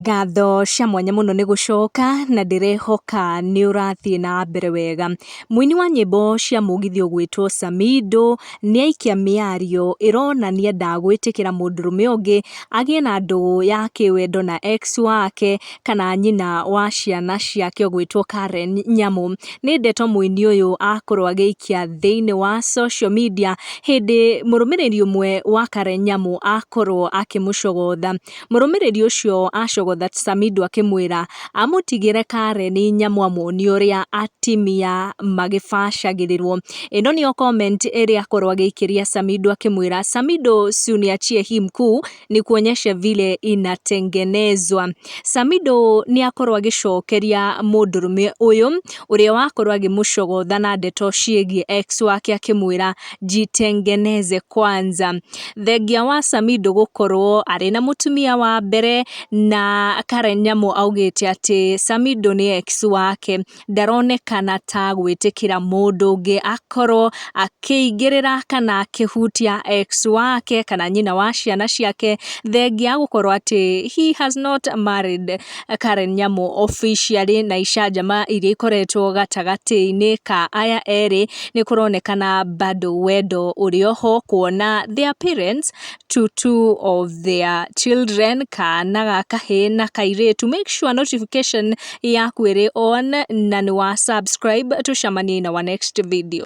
Ngatho cia mwanya mũno nĩ gũcoka, na ndĩrehoka nĩ ũrathiĩ na mbere wega. Mũini wa nyĩmbo cia mũgithi ũgwĩtwo Samido, nĩ aikia mĩario ĩronania ndagwĩtĩkĩra mũndũrũme ũngĩ agĩe na ndũgũ ya kĩwendo na ex wake, kana nyina wa ciana ciake ũgwĩtwo Karen Nyamu. Nĩ ndeto mũini ũyũ akorwo agĩikia thĩiniĩ wa social media, hĩndĩ mũrũmĩrĩri ũmwe wa Karen Nyamu akorwo akĩmũcogotha. Mũrũmĩrĩri ũcio acogotha Samido akĩmwĩra amũtigĩre Karen nyamũ amuonie ũrĩa atimia magĩbacagĩrĩrwo. Ĩno nĩyo comment ĩrĩa akorwo agĩikĩria Samido akĩmwĩra Samido si uniachie hii mkuu nikuonyeshe vile inatengenezwa. Samido nĩakorwo agĩcokeria mũndũrũme ũyũ ũrĩa wakorwo agĩmũcogotha na ndeto ciĩgiĩ ex wake akĩmwĩra jitengeneze kwanza. Thengia wa Samido gũkorwo arĩ na mũtumia wa mbere na Karen Nyamu augĩte atĩ Samido nĩ ex wake ndaronekana ta gwĩtĩkĩra mũndũ ũngĩ akorwo akĩingĩrĩra kana akĩhutia ex wake kana nyina wa ciana ciake thengia gũkorwo atĩ he has not married. Karen Nyamu officially na icanjama iria ikoretwo gatagatĩ-inĩ ka aya erĩ nĩ kũronekana bado wendo ũrĩ o ho kuona their parents to two of their children kana ga kahĩĩ na kairĩtu. Make sure notification yaku ĩrĩ on na nĩ wa subscribe. Tũcemanie in our next video.